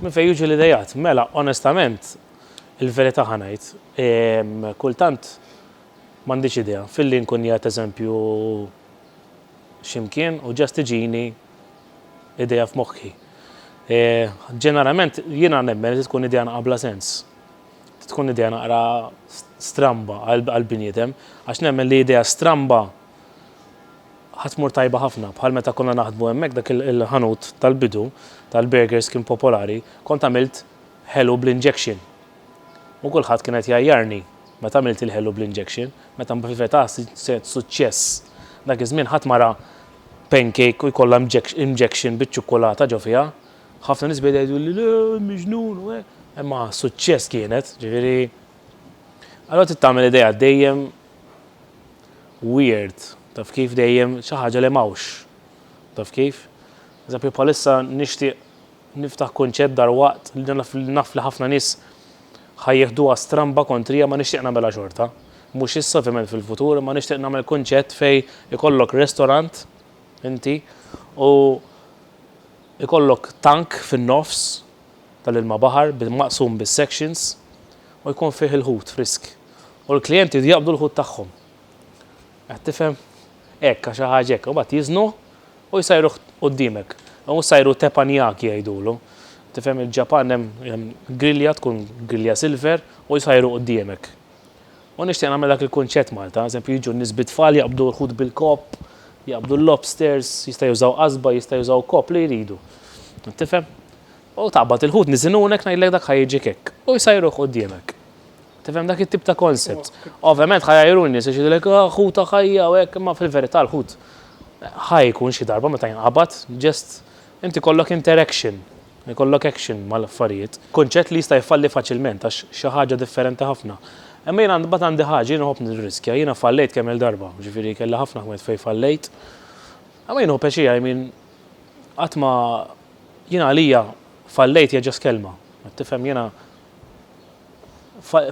Minn fejn jiġu l-ideat? Mela, onestament, il-verità ħa ngħid, kultant m'għandix idea, filli nkun qiegħed eżempju xi mkien u ġast tiġini idea f'moħħi. Ġeneralment jiena nemmen li tkun idea naqra bla sens. Tkun idea naqra stramba għall-bniedem, għax nemmen li idea stramba Ħa tmur tajba ħafna. Bħal meta konna naħdmu hemmhekk dak il-ħanut tal-bidu tal-burgers kien popolari, kont għamilt ħelu bl-injection. U kulħadd kien qed jgħajjarni meta għamilt il-ħelu bl-injection, meta mbveta suċċess. Dak iż-żmien ħadd ma ra pancake u jkollha injection biċ-ċukkulata ġo fiha. Ħafna nies beda jgħiduli le, miġnun u hekk. Imma suċċess kienet, ġifieri. Allura trid tagħmel idea dejjem. weird taf kif dejjem xi ħaġa li m'hawnx taf kif. Eżempju bħalissa nixtieq niftaħ kunċett dalwaqt li naf li naf li ħafna nies ħa jieħduha stramba kontrija ma nixtieq nagħmilha xorta. Mhux issa ovvjament fil-futur imma nixtieq nagħmel kunċett fejn ikollok restorant inti u ikollok tank fin-nofs tal-ilma baħar bi maqsum bis-sections u jkun fih il-ħut frisk u l-klijenti jridu jaqbdu l-ħut tagħhom. Qed tifhem? Hekk għax xi ħaġa hekk. U mbagħad jiżnuh u jsajruh quddiemek. U jsajru teppanyaki jgħidulu. Tifhem il-Ġapan hemm grilja tkun grilja silver u jsajru quddiemek. U nixtieq nagħmel dak il-kunċett Malta, eżempju jiġu n-nies bit-tfal jaqbdu l-ħut bil-kopp, jaqbdu l-lobsters, jista' jużaw qasba, jista' jużaw kopp li jridu. Tifhem? U taqbad il-ħut niżin u hawnhekk ngħidlek dak ħa jiġik hekk. U jsajruh quddiemek. Tifhem dak it-tip ta' concept. Ovvjament ħa jgħajru n-nies għax jgħidulek ah ħut ta' ħajja u hekk imma fil-verità l-ħut ħa jkun xi darba meta jinqabad just inti jkollok interaction. Ikollok action mal-affarijiet. Kunċett li jista' jfalli faċilment għax xi ħaġa differenti ħafna. Imma jiena mbagħad għandi ħaġa, jiena nħobb nirriskja. Jiena fallejt kemm-il darba, jiġifieri kelli ħafna ħwejt fejn fallejt. Imma jien hu peci, I mean, qatt ma, jiena għalija fallejt hija just kelma. Qed tifhem? Jiena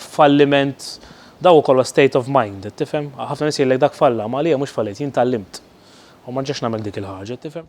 falliment dak ukoll huwa state of mind, qed tifhem? Ħafna nies jgħidlek dak falla, imma għalija mhux fallejt, jien tgħallimt u ma nerġax nagħmel dik il-ħaġa, qed tifhem?